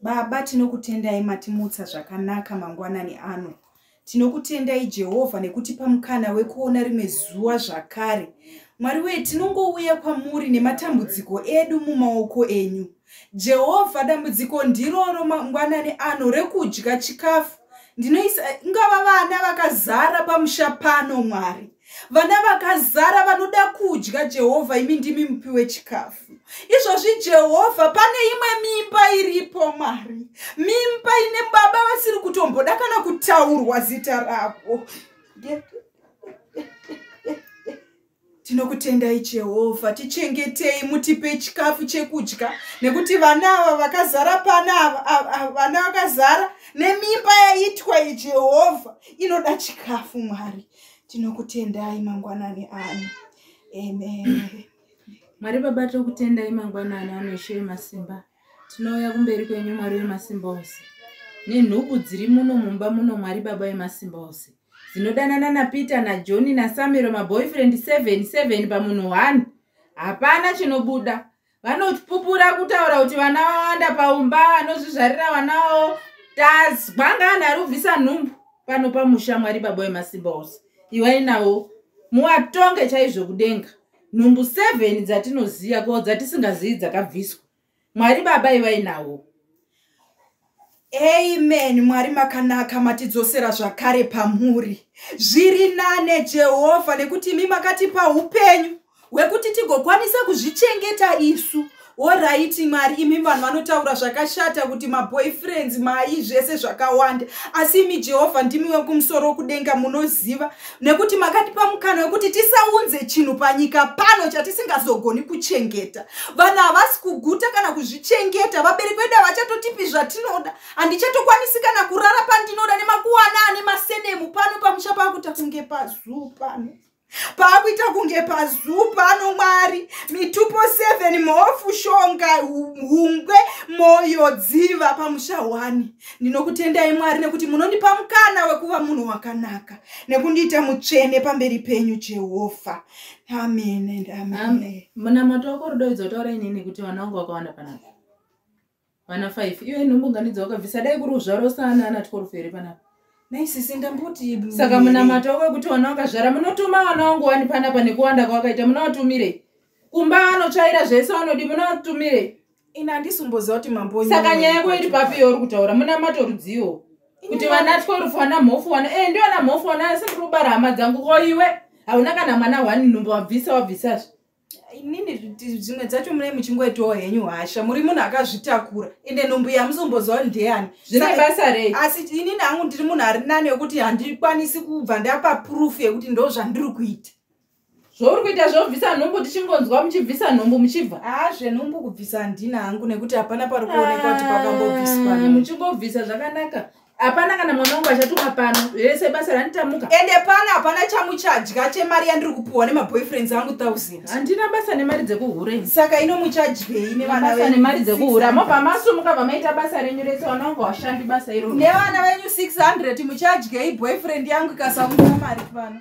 Baba, tinokutendai matimutsa zvakanaka mangwanani ano. Tinokutendai Jehovha nekutipa mukana wekuona rimwe zuva zvakare. Mwari wee, tinongouya kwamuri nematambudziko edu mumaoko enyu. Jehovha, dambudziko ndiroro mangwanani ano rekudya chikafu. Ndinoisa ingava vana vakazara pamusha pano, Mwari. vana vakazara vanoda kudya jehovha imi ndimi mupi wechikafu izvozvi jehovha pane imwe mimba iripo mwari mimba ine baba vasiri kutomboda kana kutaurwa zita ravo tinokutendai jehovha tichengetei mutipe chikafu chekudya nekuti vana ava vakazara pana vana vakazara nemimba yaitwa ijehovha inoda chikafu mwari tinokutendai mangwanani ano amen mwari baba tokutendai mangwanani ano ishe vemasimba tinouya kumberi kwenyu mwari vemasimba ose nenhubu dziri muno mumba muno mwari baba vemasimba ose dzinodanana napeter najoni nasamiro maboyfriend 77 pamunhu one hapana chinobuda vanopupura kutaura kuti vana vawanda paumba vanozvizvarira vana vavo tazwa ngaani ari kubvisa nhumbu pano pamusha mwari baba wemasimba ose iwai navo muwatonge chaizvo kudenga nhumbu seven dzatinoziva ko dzatisingazivi dzakabviswa mwari baba iwai navo amen mwari makanaka matidzosera zvakare pamuri zviri nane jehovha nekuti imi makatipa upenyu hwekuti tigokwanisa kuzvichengeta isu oraiti mwari imi vanhu vanotaura zvakashata kuti maboyfriends mai zvese zvakawanda asi imi jehovha ndimi wekumusoro kudenga munoziva nekuti makatipa mukana wekuti tisaunze chinhu panyika pano chatisingazogoni kuchengeta vanhu havasi kuguta kana kuzvichengeta vabereki vedu havachatotipi zvatinoda handichatokwanisi kana kurara pandinoda nemakuwana ane masenemu pano pamusha paakuita kunge pazuu pano paakuita kunge pazuu pano mwari mitupo 7 mhofu shonga hungwe moyo dziva pamusha 1 ndinokutendai mwari nekuti munondipa mukana wekuva munhu wakanaka nekundiita mutsvene pamberi penyu jehovha amen and amen munamato wako rudo idzi wataura inini kuti vana vangu vakawanda panapa vana five iyo inhumbuganidzo wakabvisa dai kuri uzvaro sana ana twelve here panapa naisisi ndamboti saka munamato wako wekuti vana vakazvara munotuma vana wangu wani panapa nekuwanda kwawakaita munawatumire kumba vanotsvaira zvese vanodi munawatumire ini handisi kumboziva kuti mambo saka nyaya yako iri papi yauri kutaura munamato rudziwo kuti vanatwe rufu wana mhofu wana e eh, ndi wana mhofu wana asi ndiri kubara hama dzangu ko iwe hauna kana mwana wani nhumbu wabvisa wabvisazve inini zvimwe dzacho mune muchingoitawo henyu hasha muri munhu akazvitakura ende nhumbu yamusomboziva ndeyani zvine basa rei asi inini hangu ndiri munhu ari nani wekuti handikwanisi kubva ndapa purufu yekuti ndo zvandiri kuita zvouri kuita zvobvisa nhumbu tichingonzwa muchibvisa nhumbu muchibva haa zvenhumbu kubvisa handina hangu nekuti hapana pari kuonekwa kuti pakambobviswa ah, muchingobvisa zvakanaka hapana kana mwana wangu achatuma pano rese basa randitamuka ende pano hapana chamuchadya chemari yandiri kupiwa nemaboyfriends angu thousand handina basa nemari dzekuhure saka ino muchadyei nevanabasa nemari dzekuhure mobva masumuka bva maita basa renyu rese vana wangu hashandi basa iro nevana venyu 600 muchadyei boyfriend yangu ikasaunza mari pano